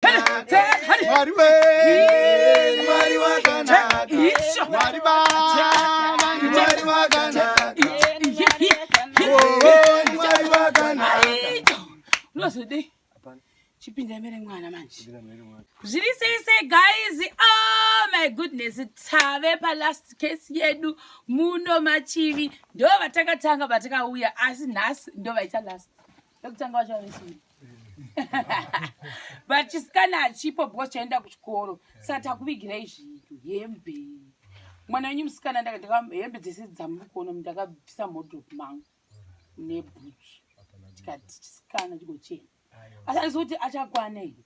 Mwari we, Mwari wakanaka, Mwari baba, Mwari wakanaka, oh, Mwari wakanaka. Unozodei? Chipinda mere mwana manje. Zviri sei sei guys? Oh my goodness, tave pa last case yedu muno machivi. Ndo vatakatanga vatakauya asi nhasi ndo vaita last. Ndokutanga vacho varisini. but chisikana hachipo because chaenda kuchikoro saka takuvigirai zvinhu hembe mwana wenyu musikana hembe dzese dzamuri kuona ndakabvisa modrop mangu nebhutsu tikati chisikana chikochena asi andizi kuti achakwanei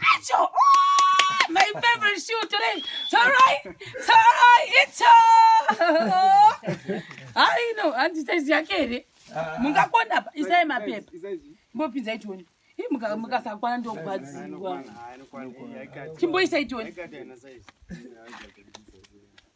Acho! Oh, my favorite shoe today! It's alright! It's alright! It's alright! How do you know? Auntie Stacy, I get it. Mungakona apa, isai mapepa. Mbopinza itoni. Hii mukasakwana ndio kubatsirwa. Chimboisa itoni.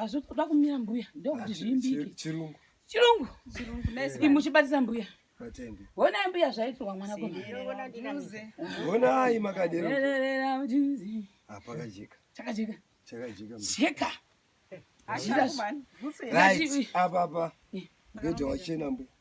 hazvoda ah, kumira mbuya ndokuti ah, zviimbike chirungu chirungu imuchibatisa mbuya honai mbuya zvaitirwa mwana honai makaderoapakajeka chakajeka chakajeka jeka apapa ndoja wachena mbuya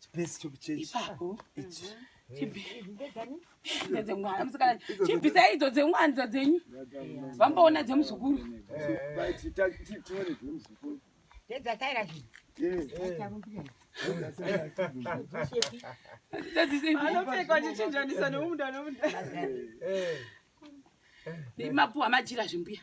Chipesi chokuchechi. Ipapo. Ichi. chibvisai idzo dzengwanza dzenyu vamboona dzemuzukuru anopfekwa chichinjanisa nomuda nomuda mapuwa majira zvimbuya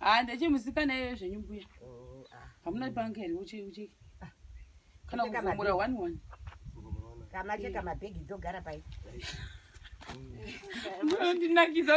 haa ndechemusikana iyoyo zvenyu mbuya oh, ah. hamuna banga here uche uche ah. kana kuvhomora one one kamacheka mabhegi dzogara pai ndinakidza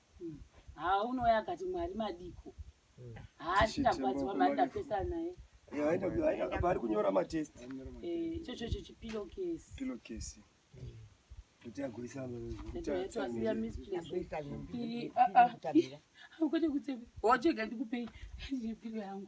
haa unouya akati mwari madiko hmm. haa chindagwadziwa mari ndapesana naye vari kunyora matest eh, ichochocho chipilo kesi kuti kutsebe hochega ndikupei pilo yangu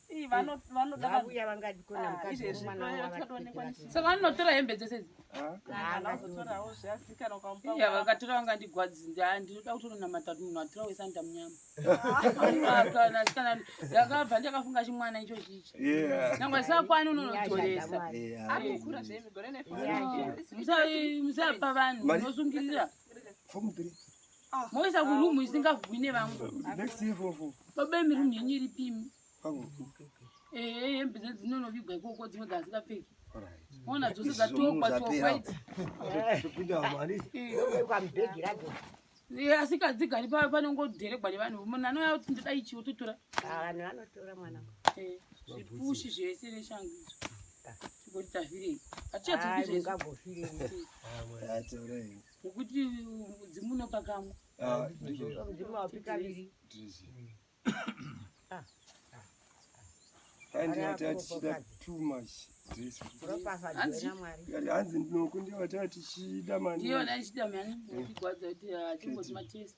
savanotora hembe dzese vakatora vangandigwadzi ndinoda kutononamata munhu atora wese anoita munyama ndakabva ndakafunga chimwana icho chichi nangwe sakwani unonotoresa musapa vanhu unosungirira moisa kurumu isingavhwi nevamwe baba imi rumu yenyu iripimi ehe hembe dzedu dzinonovigwa ikoko dzimwe dzazikapfeki ona dzose dzatokwa tokwaiti asikadzigari pava panongodheregwa nevanhu munhu anouya kuti ndoda ichi wototora vanhu vanotora mwana zvipushi zvese neshangu izvo tikoti tavhirei hatichadzokizvezvigagofirei Ukuti mudzimu unopa kamwe. Ah, mudzimu haupi kaviri. Ah. Kandi hati hatichida too much. Hanzi ndinokundiwa hati hatichida mani. Ndiyo hatichida mani. Ndikwadza kuti achingoti ah, matest.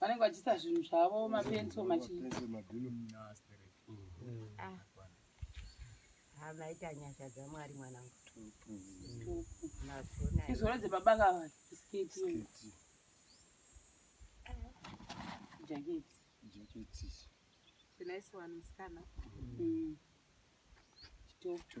vanenge vachiisa zvinhu zvavo mapenso machii hamaita nyasha dzamwari mwanangu izvoro dzebaba ngava sketi jaketi jaketi zinaisiwani musikana chitopu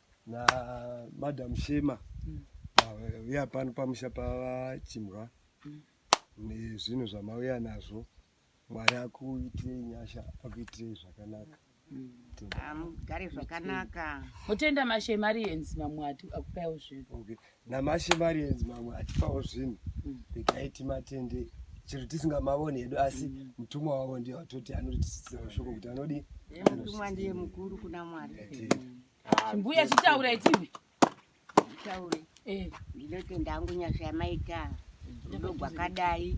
na madam Shema mm. vauya pano pamusha pavachimwa mm. nezvinhu zvamauya nazvo mwari akuitirei nyasha akuitirei zvakanaka mugare zvakanaka mutenda mashemarians mamwe akupaiwo zvinhu namashe marienzi mamwe atipawo zvinhu mm. regai timatende chero tisingamavoni hedu asi mm. mutumwa wavo ndiye watoti anotitisira ushoko kuti anodi mutumwa ndiye mukuru kuna mwari ah, mbuya chitaura itiwe ndinotenda hangu nyasha yamaita rudo gwakadai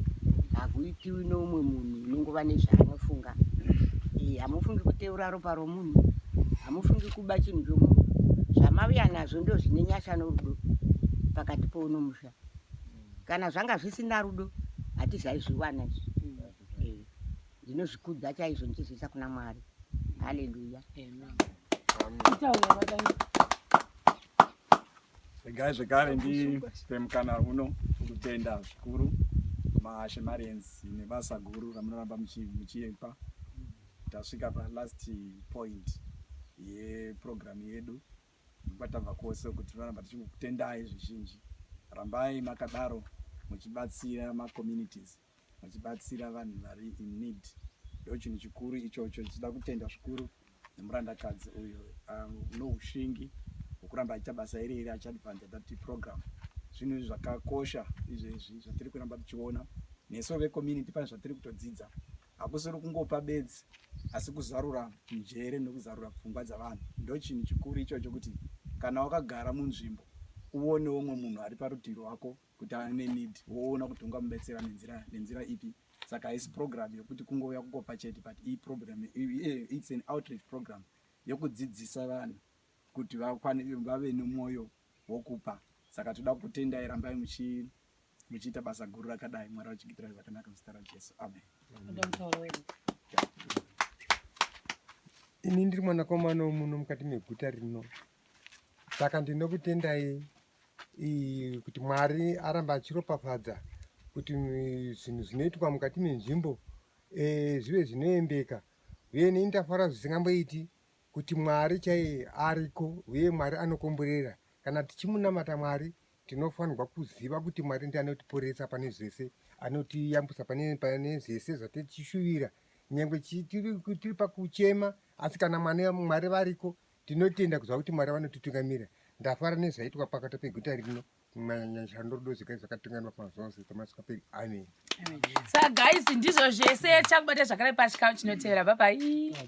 hakuitiwi neumwe munhu unongova nezvaanofunga eh, hamufungi kuteura ropa romunhu hamufungi kuba chinhu chomunhu zvamaviya nazvo ndo zvine nyasha norudo pakati pouno musha kana zvanga zvisina rudo hatizaizviwana izvi eh, ndinozvikudza chaizvo ndichizviisa kuna mwari haleluya Amen. Amen. Regai zvekare ndipe mukana uno kutenda zvikuru Mahashe Marians nebasa guru ramunoramba muchipa. Tasvika pa last point yeprogramu yedu kwatabva kwose kuti tinoramba tichikutendai zvizhinji. Rambai makadaro muchibatsira macommunities vachibatsira vanhu vari in need ndochinhu chikuru ichocho tichida kutenda zvikuru nemurandakadzi uyo um, noushingi hwekuramba achiita basa iri iri achiadvansa dati program zvinhu izvi zvakakosha izvezvi zvatiri kuramba tichiona nesu vecommunity pane zvatiri kutodzidza hakusiri kungopa bedzi asi kuzarura njere nekuzarura pfungwa dzavanhu ndochinhu chikuru ichocho kuti kana wakagara munzvimbo uonewo umwe munhu ari parutivi rwako kuti ane need woona kuti ungamubetsera nenzira nenzira ipi saka haisi program yokuti kungouya kukopa chete but iyi program its an outreach program yokudzidzisa vanhu kuti vave nomwoyo wokupa saka toda kutendai rambai muchiita basa guru rakadai mwari vachigitirai zvakanaka muzita rajesu amen ini ndiri mwanakomana womuno mukati meguta rino saka ndinokutendai kuti Mwari arambe achiropafadza kuti zvinhu zvinoitwa mukati menzvimbo e, zvive zvinoendeka uye nei ndafara zvisingamboiti kuti Mwari chaiye ariko uye Mwari anokomborera. Kana tichimunamata Mwari tinofanirwa kuziva kuti Mwari ndiye anotiporesa pane zvese, anotiyambusa pane, pane zvese zvatichishuwira nyangwe tiri pakuchema asi kana Mwari variko Tinotenda kuziva kuti Mwari vanotitungamira. Ndafara nezvaitwa pakati peguta rino manyanyashando rudo zvigai zvakatunganwa pamazuva ose tamasingaperi. Amen. Sa guys ndizvo zvese tichakubata zvakare pachikamu chinotevera. Bye bye.